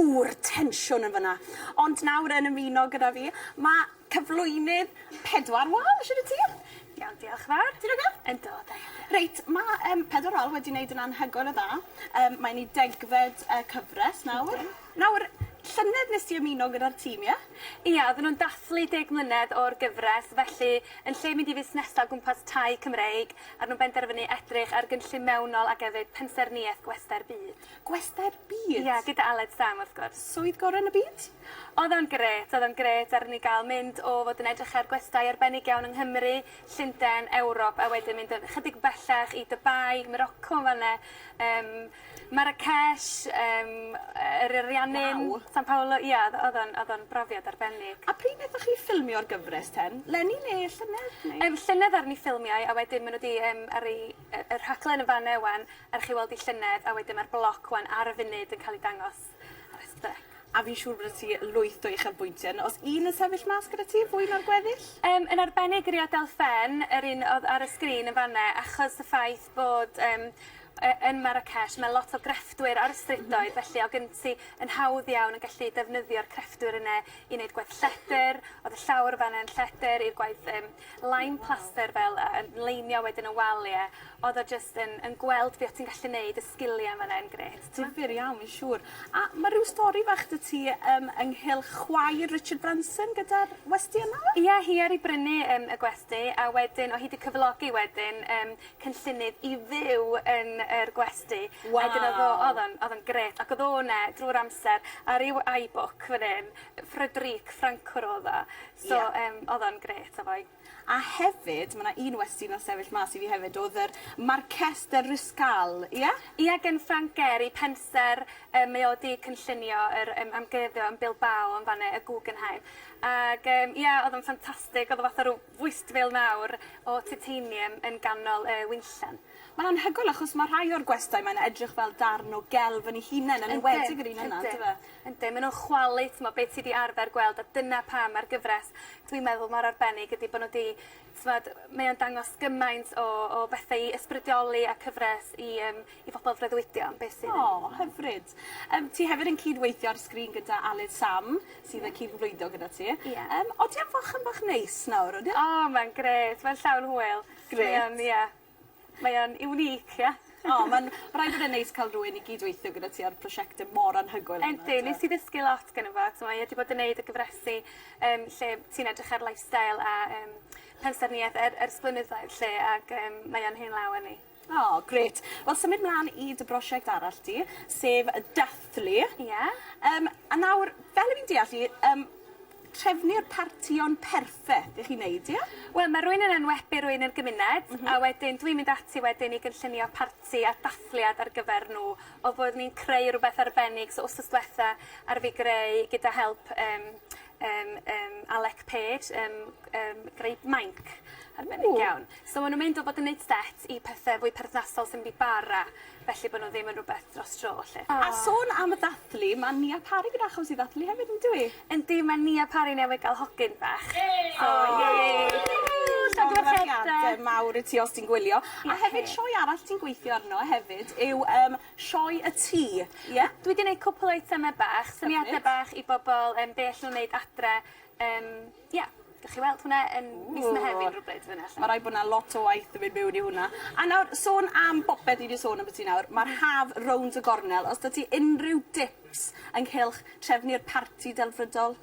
Yw'r tensiwn yn fan'na? Ond nawr yn ymuno gyda fi ma' cyflwynydd Pedwar Wal, shwd wyt ti? Iawn diolch yn fawr. Ti'n oce? Yndw da iawn diolch. Reit ma' yym Pedwar Wal wedi neud yn anhygoel o dda yym mae'n 'i degfed yy cyfres nawr. Yndi. Nawr llynedd nes ti ymuno gyda'r tîm ie? Ia odden nw'n dathlu deg mlynedd o'r gyfres felly yn lle mynd i fusnesa o gwmpas tai Cymreig a nw'n benderfynu edrych ar gynllun mewnol ac efyd pensaernïeth gwesty'r byd. Gwestai byd! Ie gyda Aled Sam wrth gwrs. Swydd gore yn y byd? Odd o'n grêt odd o'n grêt aru ni ga'l mynd o fod yn edrych ar gwestai arbennig iawn yng Nghymru, Llunden, Ewrop a wedyn mynd yn chydig bellach i Dubai, Moroco yn fan 'ne yym Marrakesh yym yy yr Ariannin... Waw. ...San Paolo ia o'dd o'dd o'n o'dd o'n brofiad arbennig. A pryd nethoch chi ffilmio'r gyfres ten? 'leni ne' llynedd neu? Yym llynedd aru ni ffilmio e a wedyn ma' n'w 'di yym aru yy y rhaglen yn fan 'ne ŵan Er chi weld 'i llynedd a wedyn ma'r bloc wan ar y funud yn ca'l 'i dangos ar y step. A fi'n siŵr byddet ti lwyth o uchelbwyntie yn os un yn sefyll mas gyda ti, fwy na'r gweddill. Yym yn arbennig rio Delphène, yr un o'dd ar y sgrin yn fan 'ne, achos y ffaith bod yym yy yn Marrakesh ma' lot o grefftwyr ar y strydoedd felly o' gen ti yn hawdd iawn yn gallu defnyddio'r crefftwyr yne i neud gwaith lledr, o'dd y llawr fan 'ne yn lledr i'r gwaith yym Lime plaster fel yy yn leimio wedyn y walie odd o jyst yn yn gweld be' o' ti'n gallu neud y sgilie yn fan 'na yn grêt. Difyr iawn fi'n siŵr. A ma' ryw stori fach 'dy ti yym ynghylch chwaer Richard Branson gyda'r westy yna? Ie hi aru brynu yym y gwesty a wedyn o' hi 'di cyflogi wedyn yym cynllunydd i fyw yn yr gwesty. Waw. A 'dyn o'dd o o'dd o'n o'dd o'n grêt ac o'dd o 'ne drw'r amser ar ryw iBook fan 'yn. Frederique Francoeur o'dd o. So yym odd o'n grêt efo'i... A hefyd ma' 'na un westy nath sefyll mas i fi hefyd odd yr Marques de Ruscal ia? Ia gin Frank Gehry pensaer yy mae o 'di cynllunio yr yym amgueddfa yn Bilbao yn fan 'ne y Guggenheim ag yym ia odd o'n ffantastig odd o fatha rw fwystfil mawr o titanium yn ganol y winllen. Ma'n anhygoel achos ma' rhai o'r gwestai mae'n edrych fel darn o gelf yn 'i hunen yn enwedig yr un yna on'd yfe? Yndi, maen nhw'n chwalu, timod, be ti 'di arfer gweld, a dyna pam mae'r gyfres, dwi'n meddwl, mor arbennig, ydy bod nhw 'di, timod, mae o'n dangos gymaint o o bethe i ysbrydoli a cyfres i yym i bobol freuddwydio am beth sydd yn... O, hyfryd. Yym ti hefyd yn cyd-weithio ar sgrin gyda Aled Sam sydd yn cyd-freuddwydio gyda ti. Ie. Yym odi o'n fach yn bach neis nawr odi? O, mae'n grêt, mae'n llawn hwyl. Grêt. Mae o'n, ie. Mae o'n unique ie? O ma'n ma' raid bod e'n neis ca'l rywun i gyd-weithio gyda ti ar prosiecte mor anhygoel fel 'na t'mo'. Yndi nes i ddysgu lot geno fo t'mo' mae e 'di bod yn neud y gyfresi yym lle ti'n edrych ar lifestyle a yym pensaernieth er- ers blynyddoedd 'lly ag yym mae o'n hen law â ni. O grêt. Wel symud mlan i dy brosiect arall di sef y dathlu. Ie. Yym a nawr fel 'yn ni'n deall 'i yym trefnu'r partïon perffeth i chi wneud, ie? Wel, mae rhywun yn enwebu rhywun i'r gymuned... M-hm. ...a wedyn dwi'n mynd ati wedyn i gynllunio parti a dathliad ar gyfer nhw fel bod ni'n creu rhywbeth arbennig. So wsnos dwetha aru fi greu gyda help yym yym yym Alec Page yym yym greu mainc arbennig iawn. Ww! So ma' nw'n mynd o fod yn neud set i pethe fwy perthnasol sy'n mynd i bara felly bo' n'w ddim yn rwbeth dros dro 'lly. A sôn am ddathlu ma' Nia Parry gyda achos i ddathlu hefyd on'd yw 'i? Yndi ma' Nia Parry newydd ga'l hogyn bach. Yay! So yay! Llongyfarchiadau mawr i ti os ti'n gwylio. Diolch. A hefyd sioe arall ti'n gweithio arno hefyd yw yym Sioe y Tŷ ie? Dwi 'di neud cwpwl o eiteme bach. Hyfryd. Syniade bach i bobol yym be' all n'w neud adre yym Ie. Gewch chi weld hwnna yn mis Mehefin rywbryd fyn 'na 'lly. Ma' raid bo' 'na lot o waith 'di mynd miwn i hwnna. A nawr sôn am bopeth ni 'di sôn ambyty nawr ma'r haf rownd y gornel os 'dy ti unryw dips ynghylch trefnu'r parti delfrydol?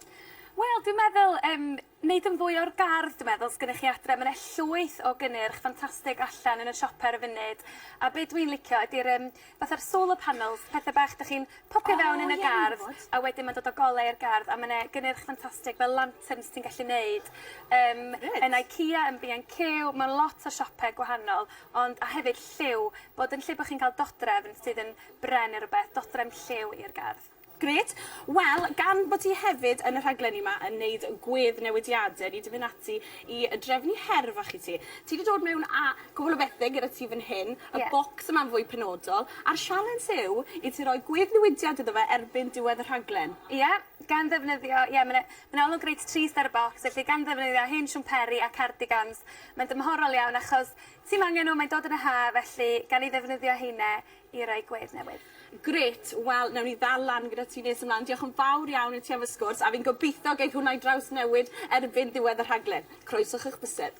Wel dwi'n meddwl yym neud yn fwy o'r gardd dwi meddwl sgennych chi adre ma' 'ne llwyth o gynnyrch ffantastig allan yn y siope ar y funud a be' dwi'n licio ydi'r yym Fatha'r solar panels, pethe bach 'dych chi'n popio fewn yn y gardd a wedyn ma'n dod â golau i'r gardd a ma' 'ne gynnyrch ffantastig fel lanterns ti'n gallu neud yym... Reit. ...yn IKEA yn Bee and Queue mewn lot o siope gwahanol ond a hefyd lliw bod yn lle bo' chi'n ca'l dodrefn sydd yn bren ne' rwbeth dodrefn lliw i'r gardd. Grêt. Wel, gan bod ti hefyd yn y rhaglenni 'ma yn neud gwedd newidiade, ni 'di myn' ati i yy drefnu her fach i ti. Ti 'di dod mewn â cwpwl o bethe gyda ti fyn hyn. Ie. Y bocs yma'n fwy penodol a'r sialens yw i ti roi gwedd newidiad iddo fe erbyn diwedd y rhaglen. Ie, gan ddefnyddio, ie ma' 'na ma' 'na olwg reit trist ar y bocs felly gan ddefnyddio hen siwmperi a cardigans mae'n dymhorol iawn achos ti'm angen n'w mae'n dod yn y ha' felly gan 'u ddefnyddio heine i roi gwedd newydd. Grêt! Wel, newn ni ddal lan gyda ti nes ymlaen. Diolch yn fawr iawn i ti am y sgwrs, a fi'n gobeithio geith hwnna 'i drawsnewid erbyn ddiwedd y rhaglen. Croeso chi'ch bysedd.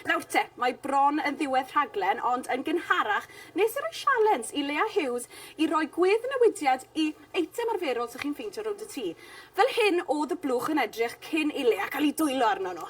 Nawr te, mae bron yn ddiwedd rhaglen, ond yn gynharach, nes i roi sialens i Leah Hughes i roi gwedd newidiad i eitem arferol 'sych chi'n ffeindio rownd y tŷ. Fel hyn o'dd y blwch yn edrych cyn i Leah ca'l 'i dwyllo arno nhw.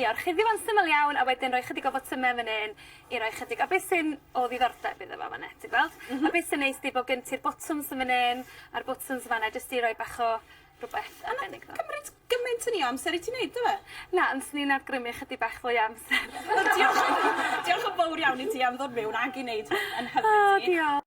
I orchuddio fo'n syml iawn a wedyn roi chydig o fotyme fyn 'yn i roi chydig a be' sy'n o ddiddordeb iddo fo fan 'na ti gweld? M-hm. A be' sy'n neis 'di bo' gen ti'r botwms yn fyn 'yn a'r botwms fan 'na jyst i roi bach o rwbeth arbennig iddo fo. A nath cymryd gymaint o ni o amser i ti neud do fe? Na ond swn i'n awgrymu chydig bach fwy o amser. O diolch. Diolch yn fowr iawn i ti am ddod miwn ag i neud hwn yn hyfryd i ni. O diol-.